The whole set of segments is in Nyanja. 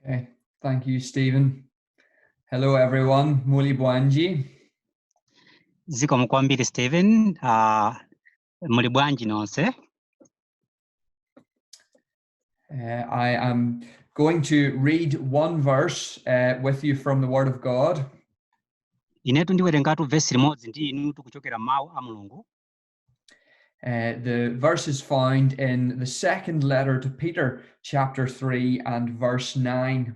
Okay, thank you, Stephen. Hello, everyone. Muli Bwanji. zikomo kwambiri stephen uh, muli bwanji nonse Uh, I am going to read one verse uh, with you from the Word of God. inetu ndiwerengatu vesi limodzi ndi inutu kuchokera mawu a mulungu Uh, the verse is found in the second letter to Peter, chapter 3 and verse 9.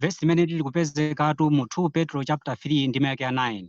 vesi limene lili kupezekatu mu 2 petro chapter 3 ndime yake ya 9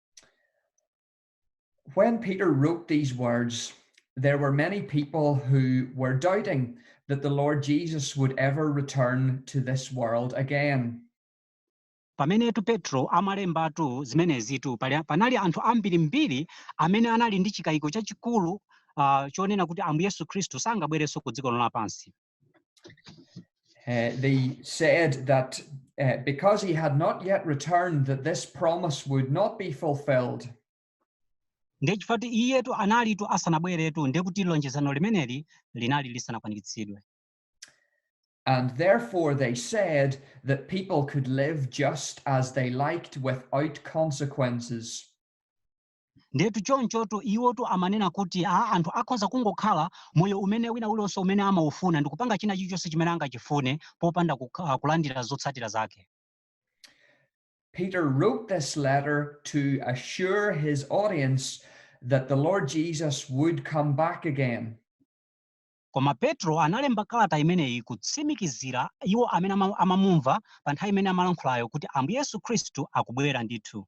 When Peter wrote these words, there were many people who were doubting that the Lord Jesus would ever return to this world again. pamenetu petro amalembatu zimenezitu pali- panali anthu ambirimbiri amene anali ndi chikayiko chachikulu uh, chonena kuti ambuye yesu khristu sangabwerenso ku dziko lino lapansi Uh, they said that uh, because he had not yet returned, that this promise would not be fulfilled. nde chifukwa choti iyetu analitu asanabweretu ndiye kuti lonjezano limeneli linali lisanakwaniritsidwe And therefore they said that people could live just as they liked without consequences. ndetu chonchotu iwotu amanena kuti a anthu akhoza kungokhala moyo umene wina uliwonse umene amaufuna ndi kupanga china chilichonse chimene angachifune popanda kukha- ah, kulandira zotsatira zake Peter wrote this letter to assure his audience that the Lord Jesus would come back again. koma petro analemba kalata imeneyi kutsimikizira iwo amene ama- amamumva pa nthawi imene amalankhulayo kuti ambuye yesu khristu akubwera ndithu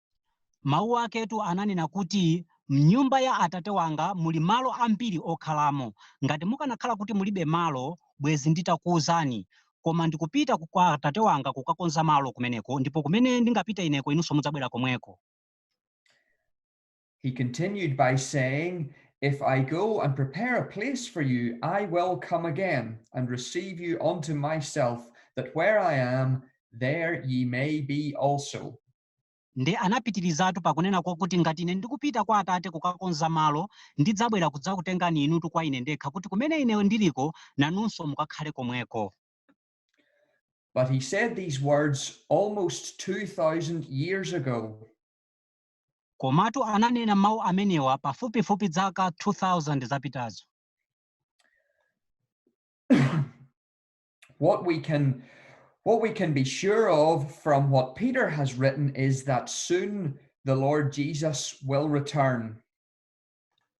Mawu aketu ananena kuti, M'nyumba ya Atate wanga muli malo ambiri okhalamo. Ngati mukanakhala kuti mulibe malo, bwenzi nditakuuzani. Koma ndikupita ku, kwa Atate wanga kukakonza malo kumeneko, ndipo kumene ndingapite Ineko inunso mudzabwera komweko. He continued by saying, If I go and prepare a place for you, I will come again and receive you unto myself, that where I am, there ye may be also. Nde anapitirizatu pakunena kwakuti, Ngati Ine ndikupita kwa Atate kukakonza malo, ndidzabwera kudzakutengani inutu kwa Ine ndekha, kuti kumene Ine ndiriko nanunso mukakhale komweko. But he said these words almost 2,000 years ago. Komatu ananena mawu amenewa pafupifupi zaka 2,000 zapitazo. what we can be sure of from what Peter has written is that soon the Lord Jesus will return.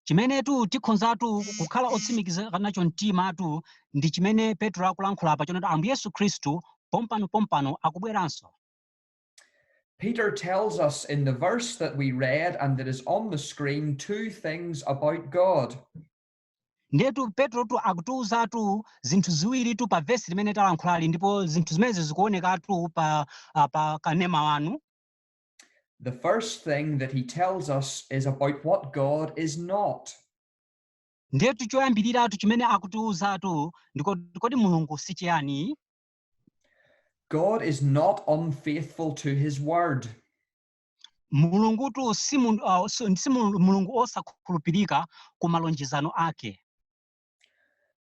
chimenetu tikhonzatu kukhala otsimikizika nacho mtimatu ndi chimene petro akulankhula apa chonena kuti ambuye yesu khristu pompano pompano akubweranso Peter tells us in the verse that we read and that is on the screen two things about God. Ndiyetu Petrotu akutiuzatu zinthu ziwiritu pa vesi limene talankhulali ndipo zinthu zimenezi zikuonekatu pa, ah, pa kanema wanu. The first thing that he tells us is about what God is not. Ndiyetu choyambiriratu chimene akutiuzatu ndi choti kodi Mulungu si chiyani? God is not unfaithful to his word. mulungutu si mun- ah, so- si mul- mulungu osakhulupirika ku malonjezano ake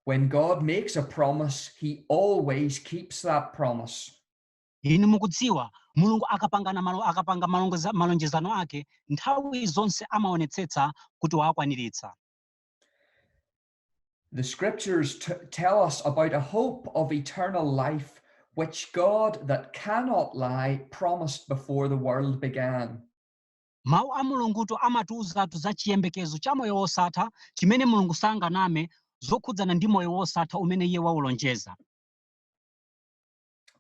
When God makes a promise, he always keeps that promise. inu mukudziwa mulungu akapanga malo- akapanga malongoza- malonjezano ake nthawi zonse amaonetsetsa kuti wakwaniritsa The scriptures t- tell us about a hope of eternal life which God that cannot lie promised before the world began. mawu a mulungutu amatiuzatu za chiyembekezo cha moyo wosatha chimene mulungu sanganame zokhudzana ndi moyo wosatha umene iye waulonjeza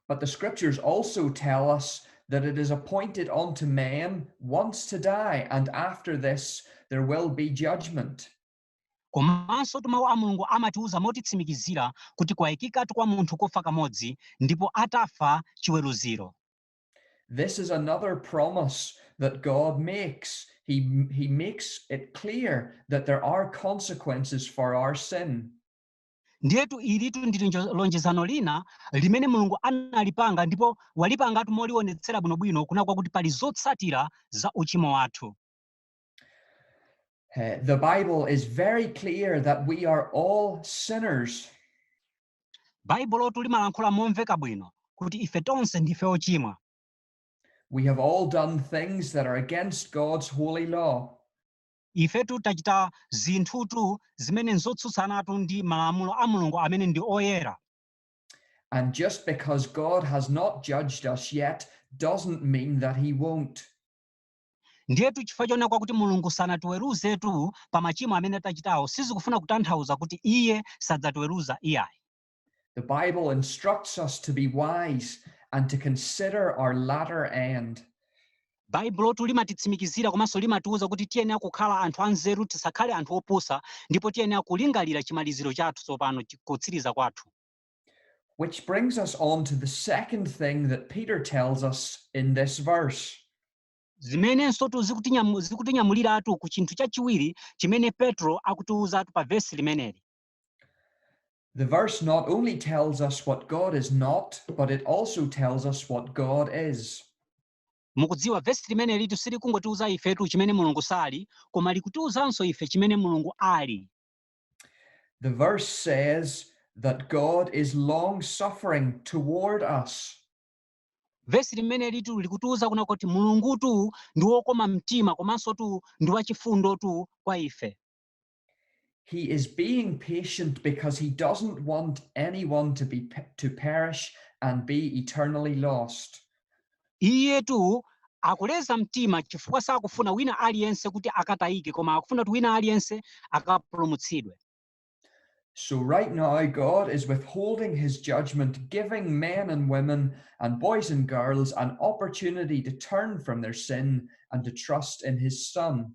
But the scriptures also tell us that it is appointed unto men once to die, and after this there will be judgment. Komansotu Mawu a Mulungu amatiuza motitsimikizira kuti kwaikikatu kwa munthu kufa kamodzi, ndipo atafa, chiweruziro. This is another promise that God makes, He He makes it clear that there are consequences for our sin. Ndiyetu ilitu ndi linjo- lonjezano lina limene Mulungu analipanga ndipo walipangatu molionetsera bwinobwino kunena kwakuti pali zotsatira za uchimo wathu. Uh, the Bible is very clear that we are all sinners. Baibulotu limalankhula momveka bwino kuti ife tonse ndife ochimwa. We have all done things that are against God's holy law. ifetu tachita zinthutu zimene nzotsutsanatu ndi malamulo a mulungu amene ndi oyera And just because God has not judged us yet doesn't mean that he won't. Ndiyetu chifukwa chonena kwakuti Mulungu sanatiweruzetu pa machimo amene tachitawo sizikufuna kutanthauza kuti iye sadzatiweruza iyayi. The Bible instructs us to be wise and to consider our latter end. Baibulotu limatitsimikizira komanso limatiuza kuti tiyenera kukhala anthu anzeru tisakhale anthu opusa ndipo tiyenera kulingalira chimaliziro chathu tsopano, kutsiriza kwathu. Which brings us on to the second thing that Peter tells us in this verse. zimenensotu zikutinyamu- zikutinyamuliratu ku chinthu chachiwiri chimene petro akutiwuzatu pa vesi limeneli The verse not only tells us what God is not, but it also tells us what God is. mukudziwa vesi limenelitu silikungotiwuza ifetu chimene mulungu sali koma likutiwuzanso ife chimene mulungu ali The verse says that God is long suffering toward us. vesi limenelitu likutiuza kunena kuti mulungutu ndi wokoma mtima komansotu ndi wachifundotu kwa ife He is being patient because he doesn't want anyone to be to perish and be eternally lost. Iyetu akuleza mtima chifukwa sakufuna wina aliyense kuti akatayike koma akufuna kuti wina aliyense akapulumutsidwe. So right now, God is withholding his judgment, giving men and women and boys and girls an opportunity to turn from their sin and to trust in his Son.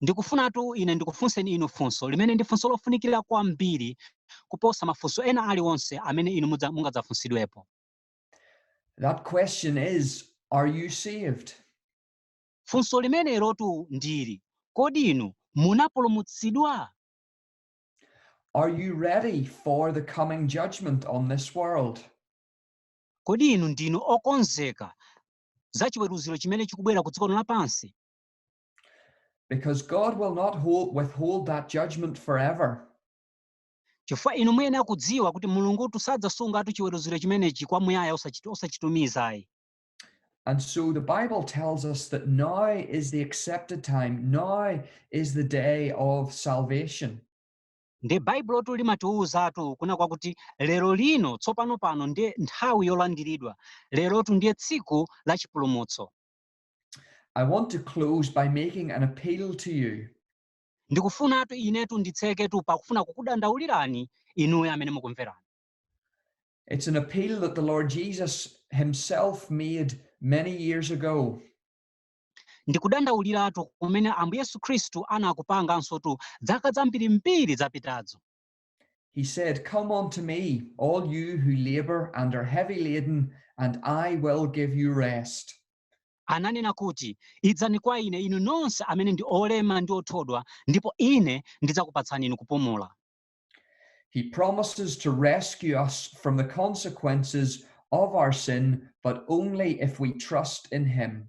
Ndikufunatu ine ndikufunseni inu funso, limene ndi funso lofunikira kwambiri kuposa mafunso ena aliwonse amene inu mudza, mungadzafunsidwepo. That question is, Are you saved? Funso limenelotu ndi ili, kodi inu munapulumutsidwa? Are you ready for the coming judgment on this world? Kodi inu ndinu okonzeka za chiweruziro chimene chikubwera ku dziko lino lapansi? Because God will not hold, withhold that judgment forever. chifukwa inu muyenera kudziwa kuti mulungutu sadzasungatu chiweruziro chimenechi kwamuyaya osachit- osachitumiza ayi And so the Bible tells us that now is the accepted time, now is the day of salvation. ndiye baibulotu limatiwuzatu kunena kwakuti lero lino tsopano pano ndiye nthawi yolandiridwa lerotu ndiye tsiku la chipulumutso I want to close by making an appeal to you. ndikufunatu inetu nditseketu pakufuna kukudandaulirani inuyo amene mukumveranu It's an appeal that the Lord Jesus himself made many years ago. ndi kudandauliratu kumene ambuye yesu khristu anakupangansotu dzaka zambirimbiri zapitazo He said, Come unto me, all you who labor and are heavy laden, and I will give you rest. ananena kuti idzani kwa ine inu nonse amene ndi olema ndi othodwa ndipo ine ndidzakupatsani inu kupumula He promises to rescue us from the consequences of our sin, but only if we trust in Him.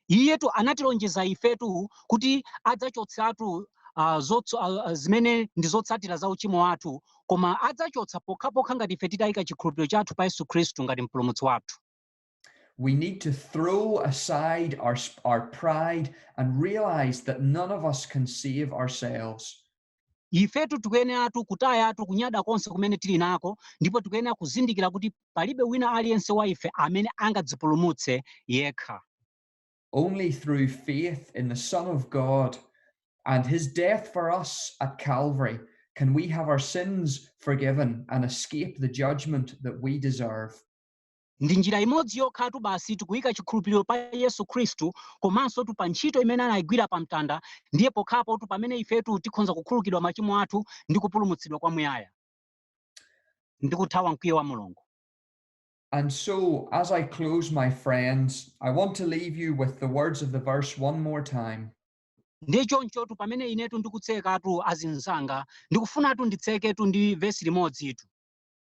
Iyetu anatilonjeza ifetu kuti adzachotsatu uh, zotso, uh, zimene ndi zotsatira za uchimo wathu, koma adzachotsa pokhapokha ngati ife titaika chikhulupiriro chathu pa Yesu Khristu ngati mpulumutsi wathu. We need to throw aside our, our pride and realize that none of us can save ourselves. ifetu tikuyeneratu kutayatu kunyada konse kumene tili nako ndipo tikuyenera kuzindikira kuti palibe wina aliyense wa ife amene angadzipulumutse yekha only through faith in the son of god and his death for us at calvary can we have our sins forgiven and escape the judgment that we deserve Ndi njira imodzi yokhatu basi tikaika chikhulupiliro pa Yesu Khristu komansotu pa ntchito imene anaigwira pa mtanda ndiye pokhapotu pamene ifetu tikhonza kukhululukidwa machimo athu ndi kupulumutsidwa kwa muyaya ndi kuthawa mkwiyo wa Mulungu. And so, as I close my friends, I want to leave you with the words of the verse one more time. Ndiye chonchotu pamene inetu ndikutsekatu azinzanga, ndikufunatu nditseketu ndi vesi limodzitu.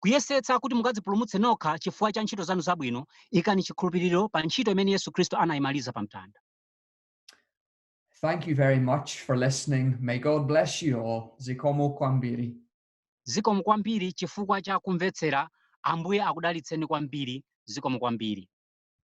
kuyesetsa kuti mukadzipulumutse nokha chifukwa cha ntchito zanu zabwino, ikani chikhulupiriro pa ntchito imene Yesu Khristu anayimaliza pa mtanda. Thank you very much for listening. May God bless you all. Zikomo kwambiri. Zikomo kwambiri chifukwa cha kumvetsera. Ambuye akudalitseni kwambiri. Zikomo kwambiri.